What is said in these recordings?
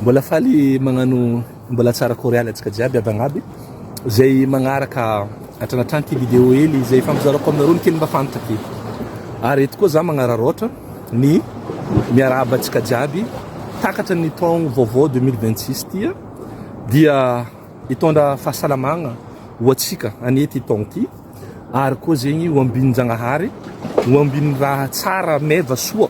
Mbola faly magnano mbola tsara akory aly atsika jiaby aby agnaby zay magnaraka hatrany hatrany ty video hely zay fampizarako aminareo ny kely mba fantatra ty ary eto koa za magnararaotra ny miarahaba atsika jiaby takatra ny taogno vaovao 2026 ty dia hitondra fahasalamagna ho atsika anie ty taogno ty ary koa zegny ho ambin'ny Jagnahary ho ambin'ny raha tsara meva soa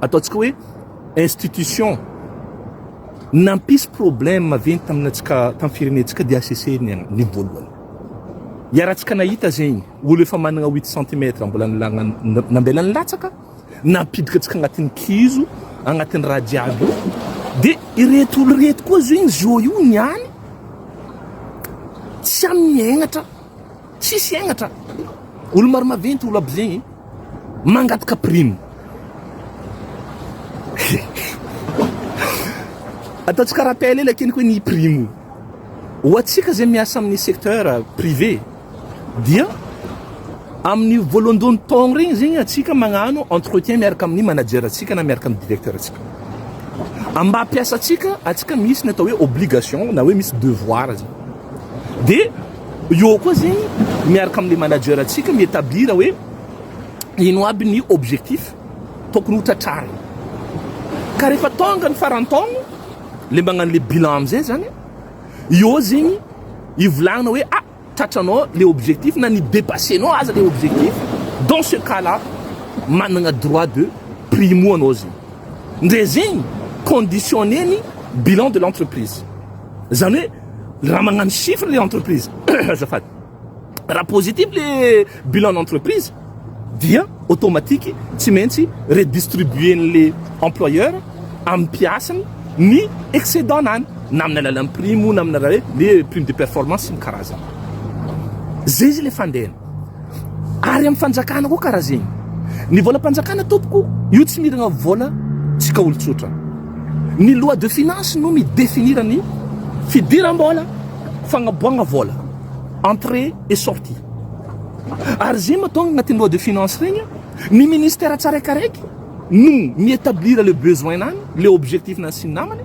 Ataontsika hoe institution nampisy problème ve ny tamin'ny antsika tamin'ny firenentsika DHCC ny an- ny voalohany. Iarahantsika nahita zegny, olo efa managna huit centimètres mbola nilagna n- nambela nilatsaka, nampiditra antsika agnatin'ny kizo, agnatin'ny raha jiaby io. De ireto olo ireto koa zegny zao io niany tsy amin'ny henatra. Tsisy henatra. Olo maro maventy olo aby zegny mangataka prime. Ataontsika rappel ela kely koa ny prime. Ho atsika zay miasa amin'ny secteur privé dia amin'ny voalohandohan'ny taogno regny zegny atsika magnano entretien miaraka amin'ny manager atsika na miaraka amin'ny directeur atsika. Ambam-piasantsika atsika misy ny atao hoe obligation na hoe misy devoir zegny. Dia Eo koa zegny miaraka amle manager tsika mi etablir hoe ino aby ny objectif tokony ho tratrarina. Ka rehefa tonga ny farantaogno le magnano le bilan amzay zany eo zegny ivolagnina hoe ah tratranao le objectif na ni depasser nao aza le objectif dans ce cas là managna droit de primo anao zegny ndre zegny conditionner ny bilan de l'entreprise. Zany hoe raha magnano chiffre le entreprise azafady raha positif le bilan n'entreprise dia automatique tsy maintsy redistribuer le employeur amin'ny mpiasany ny excédent nany na amin'ny alalan'ny prime na amin'ny alalan'ny le prime de performance sy ny karazany zay izy le fandehany Ary amin'ny fanjakana koa karaha zegny. Ny volam-panjakana tompoko, io tsy miragna vola tsika olon-tsotra. Ny loi de finance no mi definir ny fidiram-bola, fagnaboagna vola, entrée et sortie. Ary zegny mahatonga agnatin'ny loi de finance regny, ny ministère tsaraikaraiky no mi etablir le besoin-nany, le objectif-nany sy ny namany,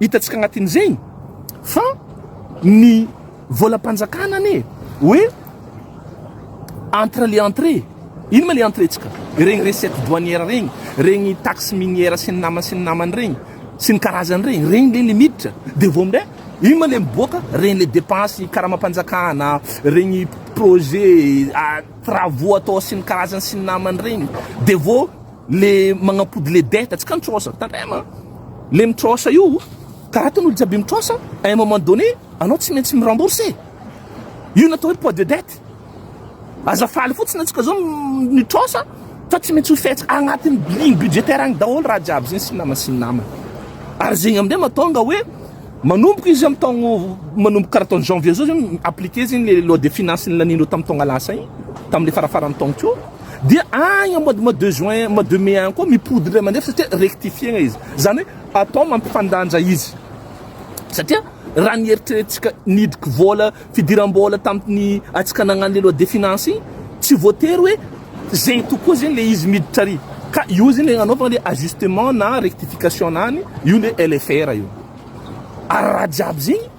Hitantsika anatin'izegny fa ny volam-panjakana anie hoe entre le entrée, ino ma le entrée-tsika? Regny recette douanière regny, regny taxe minière sy ny namany sy ny namany regny sy ny karazany regny, regny le le miditra de vao amindray ino ma le miboaka? Regny le depense karamam-panjakana, regny projet travaux atao sy ny karazany sy ny namany regny de vao Le magnampody le dette tsy ka mitrôsa, tandrema a! Le mitrôsa io, karaha ataon'olo jiaby mitrôsa, à un moment donné, anao tsy maintsy mi-rembourse e! Io no atao hoe poids de dette! Aza faly fotsiny antsika zao mitrôsa fa tsy maintsy ho fetsy agnatin'ny ligne budgétaire agny daholo raha jiaby zegny sy ny namany sy ny namany! Ary zegny am'zay mahatonga hoe manomboka izy amy taogno manomboka karaha ataon'ny janvier zao zegny mi-appliquer zegny le loi de finances nilanian'ireo tamin'ny taogna lasa igny, tamin'le farafaran'ny taogno teo, Dia agny am mois de juin, mois de mai agny koa mipody indray mandeha fa satria rectifier-na izy. Izany hoe atao mampifandanja izy. Satria raha ny eritreretintsika nidriky vola fidiram-bola tamin'ny antsika nagnano le loi de finance igny, tsy voatery hoe zegny tokoa zegny le izy miditra ary. Ka io zegny le agnanaovagna le ajustement na rectification-nany, io le LFR io. Ary raha jiaby zegny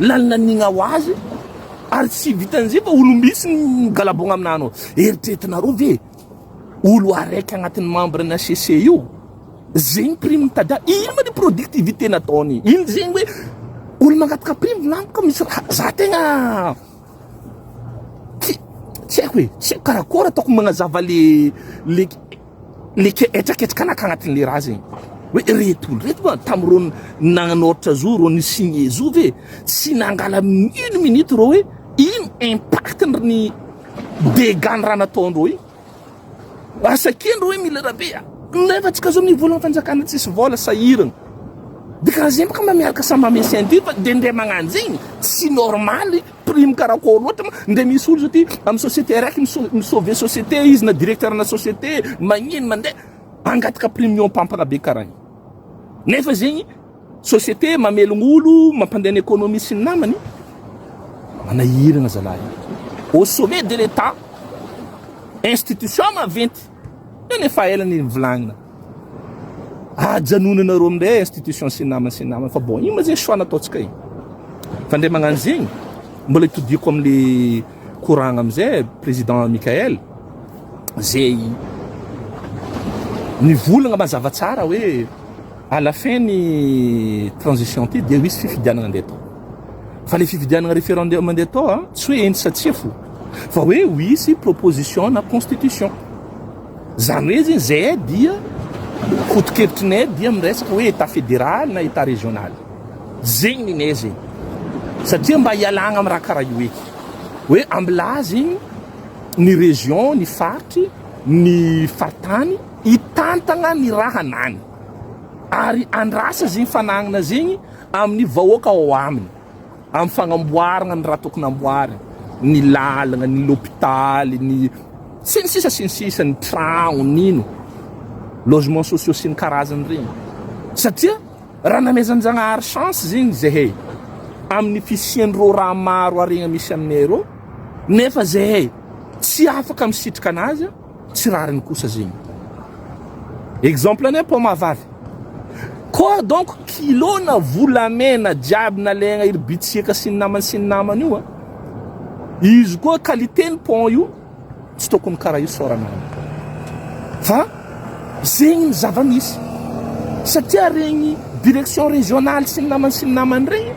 Lalina ny hina ho azy ary tsy vitan'izay fa olom-bitsy no migalabaogna aminà anao. Eritreretinareo ve olo araiky agnatin'ny membre na HCC io zegny prime mitadià? Ino ma le productivité nataony? Ino zegny hoe olo mangataka prime vinantoka misy raha za tegna tsy tsy haiko e, tsy haiko karakôry ataoko magnazava le le. le ketraketraka naka agnatin'ny le raha zegny hoe reto olo reto va tam rô nagnanôratra zo rô ni signe zo ve tsy nangala une minute rô hoe ino impact ndry ny dega ny raha nataondrô igny asa kendro hoe mila rabe a nefa tsy ka zo ny volan'ny fanjakana tsisy vôla sahiragna de karaha zegny baka mba miaraka samy mamesin-dry fa de ndray magnano zegny tsy normaly Prime karakôry loatra ma? Ndre misy olona aty amin'ny société araiky mi-sauver société izy na directeur-na société magnino mandeha mangataka prime miompampana be karaha io. Nefa zegny société mamelogno olo, mampandeha ny économie sy ny namany. Manahiragna zalahy. Au sommet de l'Etat, institution maventy. Eny efa ela ny nivolagnina. Ajanonanareo amin'ilay institution sy namana sy namana fa bon ino ma zay choix nataontsika e. Fa ndray magnano zegny mbola itodihako amle koragna amizay président Michael zay nivolagna mazava tsara hoe à la fin ny transition ty dia ho hisy fifidianana ndray atao. Fa le fividianana referendum ndeha atao a, tsy hoe eny sa tsia fo, fa hoe ho hisy proposition na constitution. Zany hoe zany zay dia foto-kevitry ny aide dia miresaka hoe état fédéral na état régional. Zegny ny nay zegny. Satria mba hialagna amin'ny raha karaha io eky. Hoe ambilà zegny ny région, ny faritry, ny faritany hitantagna ny raha nany. Ary andrasa zegny fanagnana zegny Amin'ny vahoaka ao aminy, amin'ny fagnamboarana ny raha tokony amboarina, ny lalagna, ny lopitaly, ny sy ny sisa sy ny sisa, ny tragno, ny ino, logements sociaux sy ny karazany regny. Satria raha namezan-Jagnahary chance zegny zahay amin'ny fisian'ireo raha maro aregna misy aminay reo, nefa zahay tsy afaka misitraka anazy, Tsy rariny kosa zegny. Exemple anie paoma vavy. Koa donc kilo na volamena jiaby nalaigna iry Bitsiaka sy ny namany sy ny namany io a. Izy koa qualité ny pont io tsy tokony kara io saorana azy. Fa zegny ny zava-misy. Satria regny direction régionale sy ny namany sy ny namany regny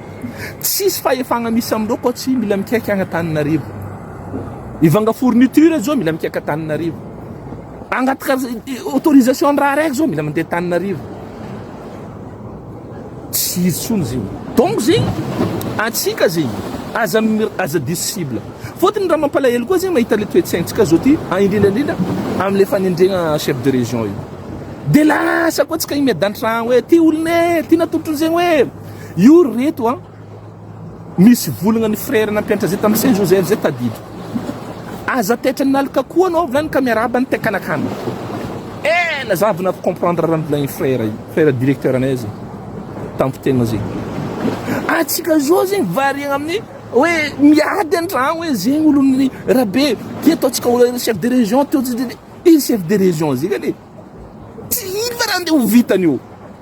tsisy fahefagna misy amindreo koa tsy mila mikaiky agny Antananarivo. I Vanga fourniture zao mila mikiaka Antananarivo. Angataka autorisation raha araiky zao mila mandeha Antananarivo. Tsy izy tsony zegny. Donc zegny antsika zegny aza aza diso cible. Fôtony raha mampalahelo koa zegny mahita le toetsaintsika zao ty, ah, indrindra indrindra amle fanendregna chef de région io. De lasa koa tsika igny miadantragna hoe ty olonay, ty natolotry zegny hoe io reto an. Ah. Misy volagna ny frere nampiantra zay tam saint Joseph zay tadidy aza taitra ny lalka koa anao avy lany ka miarahaba ny tekanakana ela za avy nahazo comprendre raha nivolagniny frere io frere directeur anay zay tam fotoagna zay atsika zao zegny variagna amin'ny hoe miady andragno hoe zegny olon'ny rabe ty ataontsika chef de région teo izy chef de région zegny anie Tsy hita raha ndeha ho vita an'io.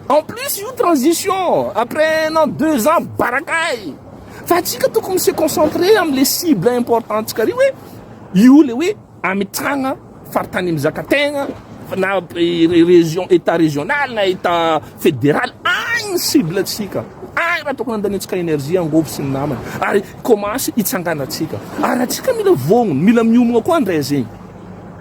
En plus io transition après un an, deux ans barakay. Fa antsika tokony mi se concentrer amin'ilay cible important antsika ary hoe io ilay hoe hametrahana faritany mizakategna na région, état régional na état fédéral. Agny ny cible antsika. Agny raha tokony handaniantsika énergie angôvo sy ny namany. Ary kômansy hitsanganantsika. Ary antsika mila vôgno, mila miomagna koa handray zegny.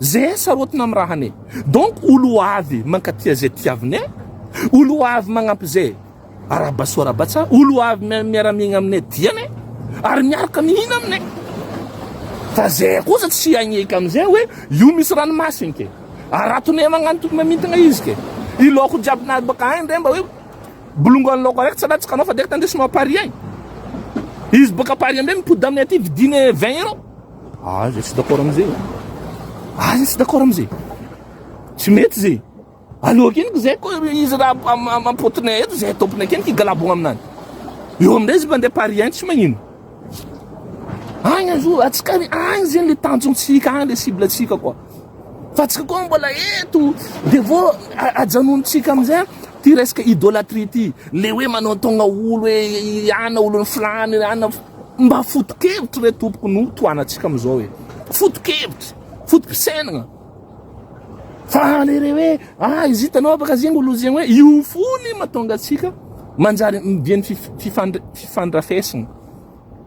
Zay sarotina am raha ne. Donc olo avy mankatia zay tiavine, olo avy magnampy zay araba soa araba tsara, olo avy miara miaigna amine tiane ary miaraka mihina amine. Fa zay kosa tsy hagneky amizay hoe io misy ranomasiny ke. Aratone magnano toby mamintagna izy ke. I laoko jiaby na baka any ndray mba hoe bolongany laoko araiky tsy alatsaka anao fa direct andesinao à Paris any. Izy baka Paris ndray mipody amine aty vidine 20 euros. Ah zay tsy d'accord amzay e. Ah zay tsy d'accord amzay. Tsy mety zay. Aloha kely zay ko izy raha ampotinay eto zay tompona kely ki galabogna aminany. Eo amindray izy mandeha Paris any tsy magnino. Agny azo atsika agny zegny le tanjontsika agny le cible tsika koa. Fa atsika koa mbola eto de vao ajanontsika amizay ty resaka idolatrie ty. Le hoe manao taogna olo hoe i ana olon'ny filany ana Mba fotokevitra ve tompoko no tohanantsika amin'izao e? Fotokevitra, fotopisainana. Fa le re hoe ah izy hitanao baka zegny olo zegny hoe io fony matonga antsika manjary midiany fifandrafesana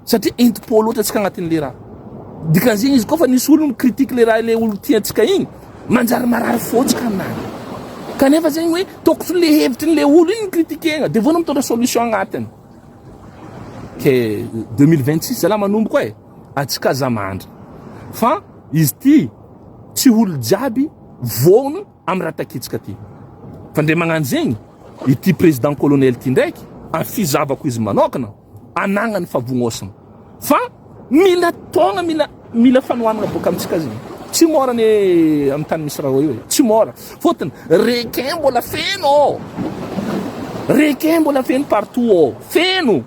satria entim-po loatra antsika agnatin'le raha. Dikan'zegny izy koa fa nisy olo mi-critique le raha le olo tiantsika igny manjary marary fo tsika aminany. Kanefa zegny hoe tokony le hevitrin'le olo igny mi-critiquer-gna de vao no mitondra solution agnatiny. Ke deux mille vingt six zalahy manomboka e, ajikaza mandry fa izy ity tsy olona jiaby vono amin'ny raha taketsika ty fa ndre magnano zegny ity président colonel ty ndraiky amin'ny fizavako izy manokana anagnany favognosana fa Mila taona, mila mila fanohanana boka amintsika azy e. Tsy mora anie amin'ny tany misy rahona io e. Tsy mora. Fotony requin mbola feno ô. Requin mbola feno partout ô. Feno.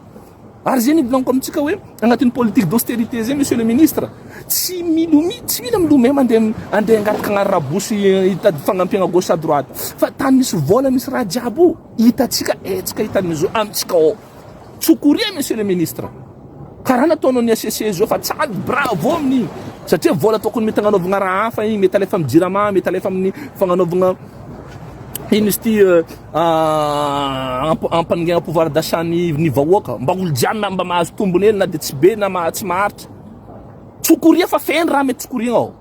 Ary zegny bilanko amintsika hoe agnatin'ny politique d'austérité zegny monsieur le ministre, tsy milomi, tsy mila milomay mandeha andeha angataka agna rabosy hitady fagnampiagna gauche à droite. Fa tany misy vôla misy raha jiaby io, hitantsika hetsika hitan'izy io amintsika ô. Choukouria monsieur le ministre, karana ataonao ny HCC zao fa tsady, bravo amin'iny satria vola tokony mety agnanaovagna raha hafa igny, mety alefa amin'ny jirama, mety alefa amin'ny fagnanaovagna ino izy ty hampaningagna pouvoir d'achat ny vahoaka, mba olo jiaby mba mahazo tombony hely na de tsy be na maha tsy maharitra, choukouria fa feno raha mety choukouriagnao.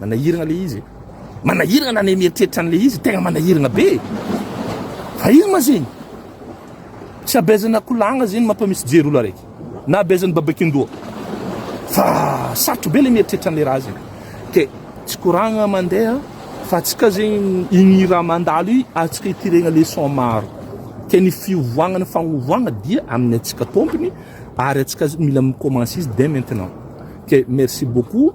Manahirana le izy e! Manahirana anie mieritreritra an'le izy, tegna manahirana be e! Fa ino ma zegny? Tsy habeazan'akolagna zegny mampamisy jery olo araiky, na habeazan'ny babakin-doha, fa sarotro be le mieritreritra an'le raha zegny, ke tsy koragna mandeha fa antsika zegny igny raha mandalo igny antsika itirena leçon maro, ke ny fiovoagna ny fagnovoagna dia amin'ny antsika tompony ary antsika mila mi-commence izy dès maintenant, ke merci beaucoup.